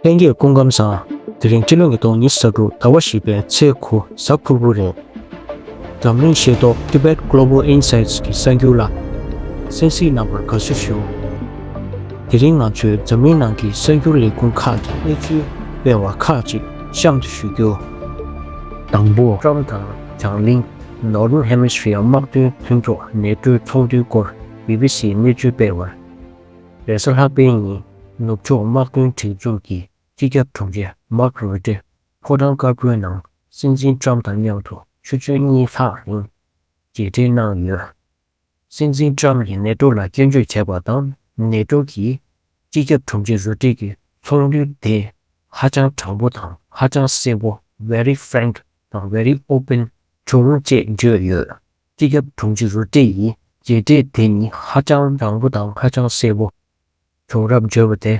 ལྷན་རྒྱས་སྐུ་ཁམས་བཟང། དེ་རིང་སྤྱི་ལོ་ཉིས་སྟོང་ཉིས་གསར་དྲུག་ཟླ་བ་བཞི་པའི་ཚེས་དགུ་གཟའ་ཕུར་བུ་རེད། འཛམ་གླིང་ཤེས་རྟོགས Tibet Global Insights གི་གསར་འགྱུར་ལ། སེམས་གཟིགས་རྣམ་པར་དགའ་བསུ་ཞུ། དེ་རིང་ང་ཚོས་འཛམ་གླིང་ནང་གི་གསར་འགྱུར་ལས་ཁུངས་ཁག་གི་གནས་ཚུལ་སྤེལ་བ་ཁག་ཅིག་གཤམ་དུ་ཞུ་རྒྱུ། དང་པོ། ཀྲོམ་དང་བྱང་གླིང Northern Hemisphere དམག་དོན་མཐུན་ཚོགས་ནད་ཁྲོད་ཚོགས་འདུའི་སྐོར BBC གནས་ཚུལ་སྤེལ་བར། ལས་བཟོ་ལྷག་པའི་ཉིན་ནུབ་ཕྱོགས་དམག་དོན་སྒྲིག་འཛུགས་ཀྱི་སྤྱི་ཁྱབ་དྲུང་ཆེ་མཱག་རུ་ཏེ་ཕོ་བྲང་དཀར་པོའི་ནང་སྲིད་འཛིན་ཀྲམ་དང་མཉམ་དུ་ཆུ་ཚོད་གཉིས་ལྷག་རིང་མཇལ་འཕྲད་གནང་ཡོད། སྲིད་འཛིན་ཀྲམ་གྱིས་ནེ་ཏོ་ལ་སྐྱོན་བརྗོད་བྱས་པ་དང་ནེ་ཏོ་གི་སྤྱི་ཁྱབ་དྲུང་ཆེ་རུ་ཏེ་གྱི་ཚོགས་འདུ་དེ་ཧ་ཅང་དྲང་པོ་དང་ཧ་ཅང་གསལ་པོ Very Frank དང Very Open བྱུང་ཅེས་བརྗོད་ཡོད། སྤྱི་ཁྱབ་དྲུང་ཆེ་རུ་ཏྲེ་ཡིས་མཇལ་འཕྲད་དེ་ནི་ཧ་ཅང་བཟང་པོ་དང་ཧ་ཅང་གསལ་པོ་བྱུང་རབས་བརྗོད་པ་དེ་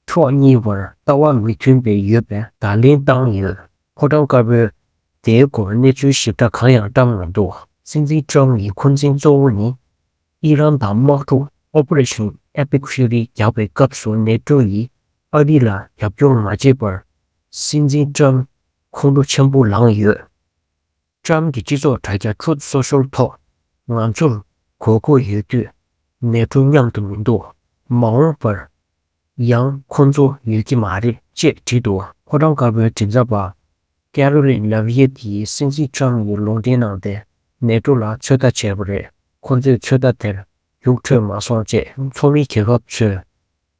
ཕྱོགས་གཉིས་བར་ལྟ་བ་མི་མཐུན་པའི་ཡོད་པའི་བརྡ་ལན་བཏང་ཡོད། ཕོ་བྲང་དཀར་པོས་དེའི་སྐོར་གནས་ཚུལ་ཞིབ་ཕྲ་གང་ཡང་བཀྲམས་མི་འདུག། སྲིད་འཛིན་ཀྲང་ཡི་འཁོན་འཛིན་གཙོ་བོ་ནི་ཨི་རན་དང་དམག་འཁྲུག Operation Epic Fury རྒྱག་པའི་སྐབས་སུ་ནེ་ཀྲོ་ཡིས་ཨ་རི་ལ་རྒྱབ་སྐྱོར་མ་བྱས་པར་སྲིད་འཛིན་ཀྲང་ཁོང་ཁྲོ་ཆེན་པོ་ལངས་ཡོད། ལྕམ་གྱི་སྤྱི་ཚོགས་དྲ་རྒྱ Truth Social ཐོག་ང་ཚོར་གོ་སྐོ་ཡོད་དུས་ནེ་ཀྲོ་མཉམ་དུ་མི་འདུག་མ་འོངས་པར་ཡང་ཁོ་ཚོ་ཡོད་ཀྱི་མ་རེད་ཅེས་བྲིས་འདུག། ཕོ་བྲང་དཀར་པོའི་མགྲིན་ཚབ་པ Caroline Laviette ཡིས་སྲིད་འཛིན་ལྕམ་ཡིས་ལུང་འདྲེན་གནང་སྟེ་ནེ་ཀྲོ་ལ་ཚོད་ལྟ་བྱས་པ་རེད་ཁོ་ཚོས་ཚོད་ལྟ་དེར་རྒྱུགས་འཕྲོད་མ་སོང་ཅེས་ཚོགས་མི་རྒྱལ་ཁབ་ཚོས་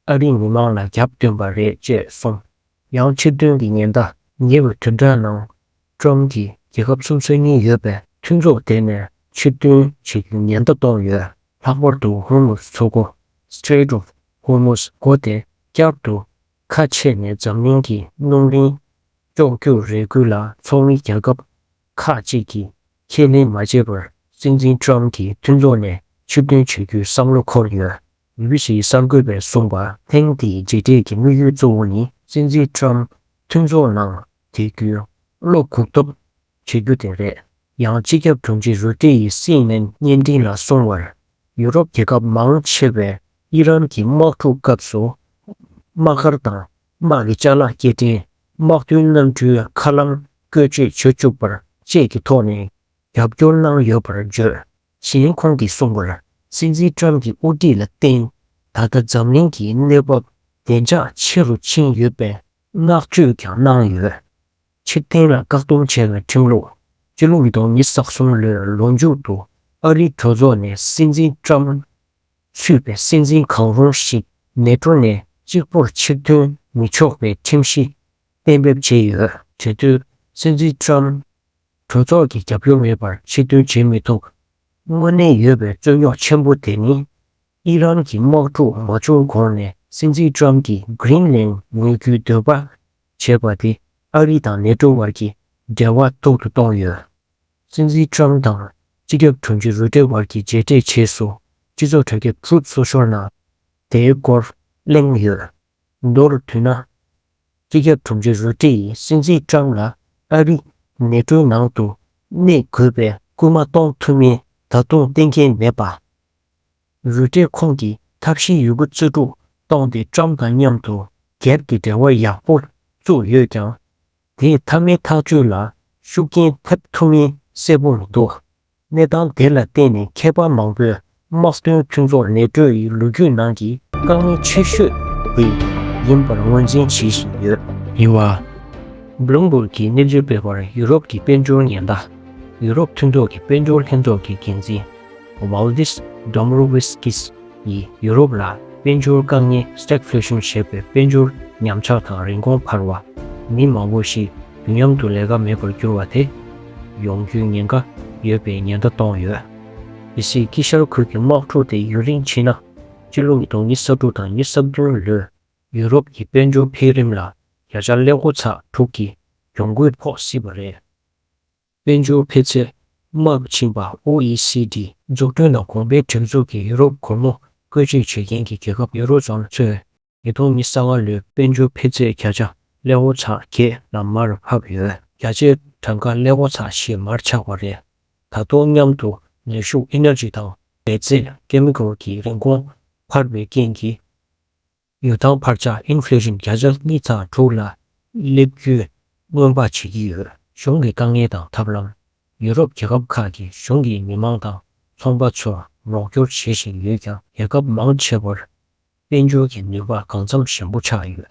ཨ་རིའི་མི་མང་ལ་རྒྱབ་བསྟུན་པ་རེད་ཅེས་གསུངས། ཡང་ཕྱིར་འདོན་གྱི་ཉེན་བརྡ། ཉེ་བའི་དུས་དྲྭ་ནང་ཀྲུང་གིས་རྒྱལ་ཁབ་གསུམ་སོ་གཉིས་ཡོད་པའི་མཐུན་ཚོགས་དེ་ནས་ཕྱིར་འཐོན་བྱེད་རྒྱུའི་ཉེན་བརྡ་གཏོང་ཡོད། ལྷག་པར་དུ་ཧོར་མུས་མཚོ་སྒོ། Strait of Hormuz། སྒོ་དེ་བསྐྱར་དུ་ཁ་ཕྱེ་ནས་འཛམ་གླིང་གི་སྣུམ་རིན་གཅོག་རྒྱུར་རེ་སྐུལ་ལ་ཚོགས་མི་རྒྱལ་ཁབ་ཁག་གཅིག་གིས་ཁས་ལེན་མ་བྱས་པར་སྲིད་འཛིན་ཀྲུང་གིས་མཐུན་ཚོགས་ནས་ཕྱིར་འཐོན་བྱེད་རྒྱུའི་བསམ་བློ་འཁོར་ཡོད། ཡུལ་གཞིས་གསར་འགོད་པས་གསུངས་པར་ཐེངས་འདིའི་མཇལ་འཕྲད་ཀྱི་དམིགས་ཡུལ་གཙོ་བོ་ནི། སྲིད་འཛིན་ཁྲོམ་མཐུན་ཚོགས་ནང་དེ་བསྐྱུར་བློ་འགུག་ཐབས་བྱེད་རྒྱུ་དེ་རེད། ཡང་སྤྱི་ཁྱབ་དྲུང་ཆེ་རུ་ཏེ་ཡིས་སི་ཨེན་ཨེན་བརྙན་འཕྲིན་ལ་གསུངས་བར། ཡུ་རོབ་རྒྱལ་ཁབ་མང་ཆེ་བས་དབྱི་རན་གྱི་དམག་འཁྲུག་སྐབས་སུ་དམག་སྒར་དང་དམག་གི་བཅའ་ལག་སྐྱེལ་འདྲེན་དམག་བདུན་གནམ་གྲུའི་མཁའ་ལམ་བཀོལ་སྤྱོད་བྱེད་བཅུག་པར་བཅས་ཀྱི་ཐོག་ནས་རྒྱབ་སྐྱོར་གནང་ཡོད་པར་བརྗོད། ཞིང་ཁོང་གིས་གསུངས་པར་སྲིད་འཛིན་ཀྲམ་གྱི་དབུ་ཁྲིད་ལ་བརྟེན་ད་ལྟ་འཛམ་གླིང་གི་གནས་བབ་བདེ་འཇགས་ཆེ་རུ་ཕྱིན་ཡོད་པའི་བསྔགས་བརྗོད་ཀྱང་གནང་ཡོད། ཕྱིར་འཐེན་ལ་བཀག་སྡོམ་བྱས་པའི་ཁྲིམས་ལུགས་སྤྱི་ལོ་ཉིས་སྟོང་ཉིས་བརྒྱ་ས་གསུམ་ལོའི་ལོ་མཇུག་ཏུ་ཨ་རིའི་གྲོས་ཚོགས་ནས་སྲིད་འཛིན་ཀྲམ་ཚུད་པའི་སྲིད་འཛིན་གང་རུང་ཞིག་མེ་ཏྲོ་ནས་གཅིག་པོར་ཕྱིར་འཐོན་མི་ཆོག་པའི་ཁྲིམས་གཞི་གཏན་འབེབས་བྱས་ཡོད། དེ་དུས་སྲིད་འཛིན་ཀྲམ་གྲོས་ཚོགས་ཀྱི་རྒྱབ་སྐྱོར་མེད་པར་ཕྱིར་འདོན་བྱེད་མི་ཐུབ། དངོས་གནས་ཡོད་པའི་རྩོད་རྙོག་ཆེན་པོ་དེ་ནི། ཨི་རན་གྱི་དམག་འཁྲུག་མ་བྱུང་གོང་ནས་སྲིད་འཛིན Trump གྱིས Greenland ཉོ་རྒྱུའི་འདོད་པ་བྱས་པ་དེ་ཨ་རི་དང་ནེ་ཏྲོ་བར་གྱི་འབྲེལ་བ་སྡུག་ཏུ་གཏོང་ཡོད། སྲིད་འཛིན Trump དང་སྤྱི་ཁྱབ་དྲུང་ཆེ Rutte བར་གྱི་མཇལ་འཕྲད་རྗེས་སུ་སྤྱི་ཚོགས་དྲ་རྒྱ Truth Social ནང་དེའི་སྐོར་གླེང་ཡོད། མདོར་བསྡུས་ན། སྤྱི་ཁྱབ་དྲུང་ཆེ་རུ་ཀྲི་ཡིས་སྲིད་འཛིན་ཀྲང་ལ་ཨ་རིས་ནེ་ཀྲོའི་ནང་དུ་གནས་དགོས་པའི་སྐུལ་མ་གཏོང་ཐུབ་མིན་ད་དུང་གཏན་འཁེལ་མེད་པ། རུ་ཀྲས་ཁོང་གི་ཐབས་ཤེས་ཡོད་རྒུ་རྩོད་སྒྲུག་གཏོང་སྟེ་ཀྲང་དང་མཉམ་དུ་སྒེར་གྱི་འབྲེལ་བ་ཡག་པོ་བཙུགས་ཡོད་ཀྱང། དེས་མཐའ་མའི་ཐག་གཅོད་ལ་ཤུགས་རྐྱེན་ཐེབས་ཐུབ་མིན་གསལ་པོ་མི་འདུག་གནས་སྟངས་དེ་ལ་བརྟེན་ནས་མཁས་པ་མང་པོས་དམག་དོན་མཐུན་ཚོགས་ནེ་ཀྲོ་ཡི་ལོ་རྒྱུས་ནང་གི་དཀའ་ངལ་ཆེ་ཤོས་དེ་ཡིན་པར་ངོས་འཛིན་བྱེད་བཞིན་ཡོད། ཡིན་བ། Bloomberg གིས་གནས་ཚུལ་སྤེལ་བར་ཡུ་རོབ་ཀྱི་དཔལ་འབྱོར་ཉེན་བརྡ། ཡུ་རོབ་མཐུན་ཚོགས་ཀྱི་དཔལ་འབྱོར་ལྷན་ཚོགས་ཀྱི་འགན་འཛིན། Valdis Dombrovskis། ཡིས་ཡུ་རོབ་ལ་དཔལ་འབྱོར་དཀའ་ངལ Stagflation ཞེས་པའི་དཔལ་འབྱོར་ཉམས་ཆག་དང་རིན་གོང་འཕར་བ། མི་མང་པོ་ཞིག་དུས་མཉམ་དུ་ལས་ཀ་མེད་པར་གྱུར་བ་དེ། ཡོང་རྒྱུའི་ཉེན་ཁ་ཡོད་པའི་ཉེན་བརྡ་གཏོང་ཡོད། ཇི་སྲིད་དཀྱིལ་ཤར་ཁུལ་གྱི་དམག་འཁྲུག་དེ་ཡུན་རིང་ཕྱིན་ན། སྤྱི་ལོ་ཉིས་སྟོང་ཉིས་ས་དྲུག་དང་ཉིས་ས་བདུན་ལོའི་ཡུ་རོབ་ཀྱི་དཔལ་འབྱོར་འཕེལ་རིམ་ལ་བརྒྱ་ཆ་ལས་དགུ་ཚ་དྲུག་གི་གྱོང་གུད་ཕོག་སྲིད་པ་རེད། དཔལ་འབྱོར་འཕེལ་ཚད་དམའ་རུ་ཕྱིན་པ OECD། འཛུགས་སྐྲུན་དང་གོང་འཕེལ་སྒྲིག་འཛུགས་ཀྱི་ཡུ་རོབ་གོར་མོ་བཀོད་སྤྱོད་བྱེད་མཁན་གྱི་རྒྱལ་ཁབ་ཡུ་རོ་ཙོན་ཚོས་ཉིས་སྟོང་ཉི་ས་ང་ལོའི་དཔལ་འབྱོར་འཕེལ་ཚད་བརྒྱ་ཆ་ལས་འོ་ཆ་བརྒྱད་ལ་མར་ཕབ་ཡོད། བརྒྱ་ཆའི་གྲངས་ཀ་ལས་འོ་ཆ་བཞི་མར་ཆག་པ་རེད། ད་དུང་མཉམ་དུ་ནུས་ཤུགས Energy དང་འབད་རྩལ Chemical གྱི་རིན་གོང་འཕར་བའི་རྐྱེན་གྱིས། ཡོ་ཐང་འཕར་ཆག Inflation བརྒྱ་ཆ་གཉིས་དང་དྲུག་ལ་སླེབས་རྒྱུའི་སྔོན་དཔག་བྱེད་ཀྱི་ཡོད། གཞུང་གི་དཀའ་ངལ་དང་ཐབས་ལམ། ཡུ་རོབ་རྒྱལ་ཁབ་ཁག་གིས་གཞུང་གིས་མི་མང་དང་ཚོང་པ་ཚོར་རོགས་སྐྱོར་བྱེད་བཞིན་ཡོད་ཀྱང་རྒྱལ་ཁབ་མང་ཆེ་བར་དཔལ་འབྱོར་གྱི་ནུས་པ་གང་འཚམ་ཞན་པོ་ཆགས་ཡོད།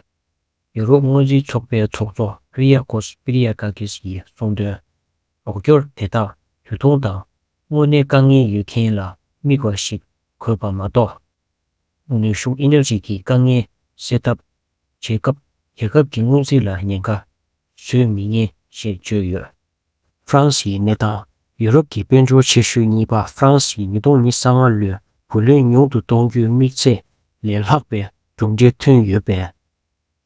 ཡུ་རོབ་སྔོན་རྩིས་ཚོགས་པའི་ཚོགས་གཙོ Kyriakos Spyriakakis ཡིས་གསུངས་དོན། རོགས་སྐྱོར་དེ་དག་དུས་ཐུང་དང་དངོས་གནས་དཀའ་ངལ་ཡོད་མཁན་ལ་དམིགས་བ་ཞིག་དགོས་པ་མ་གཏོགས། ནུས་ཤུགས Energy གྱི་དཀའ་ངལ་སེལ་ཐབས་བྱེད་སྐབས་རྒྱལ་ཁབ་ཀྱི་སྔོན་རྩིས་ལ་ཉེན་ཁ་བཟོས་མི་ཉན་ཞེས་བརྗོད་ཡོད། ཧྥ་རན་སིའི་གནས་སྟངས། ཡུ་རོབ་ཀྱི་དཔལ་འབྱོར་ཆེ་ཤོས་གཉིས་པ་ཧྥ་རན་སིའི་ཉིས་སྟོང་ཉིས་ས་ལྔ་ལོའི་བུ་ལོན་ཉུང་དུ་གཏོང་རྒྱུའི་དམིགས་ཚད་ལས་ལྷག་པའི་གྲུབ་འབྲས་ཐོན་ཡོད་པས།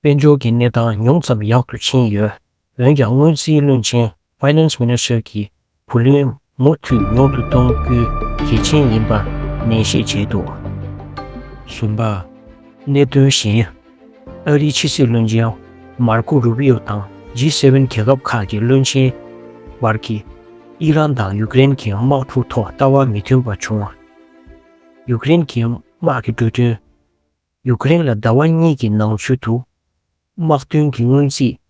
དཔལ་འབྱོར་གྱི་གནས་སྟངས་ཉུང་ཙམ་ཡག་ཏུ་ཕྱིན་ཡོད། འོན་ཀྱང་སྔོན་རྩིས་བློན་ཆེན Finance Minister གྱིས་བུ་ལོན་མུ་མཐུད་ཉུང་དུ་གཏོང་རྒྱུ་གལ་ཆེན་ཡིན་པར་ནན་བཤད་བྱས་འདུག་གསུམ་པ། གནད་དོན་གཞན། ཨ་རིའི་ཕྱི་སྲིད་བློན་ཆེན་མར་ཁོ་རུ་བྷི་ཡོ་དང G7རྒྱལ་ཁབ་ཁག་གི་བློན་ཆེན་བར་གྱི་ཨི་རན་དང་ཡུཀ་རེན་གྱི་དམག་འཁྲུག་ཐོག་ལྟ་བ་མི་མཐུན་པ་བྱུང་བ། ཡུཀ་རེན་གྱི་དམག་གི་འགྲོ་དོན། ཡུཀ་རེན་ལ་ཟླ་བ་གཉིས་ཀྱི་ནང་ཚུད་དུ་དམག་དོན་གྱི་སྔོན་རྩིས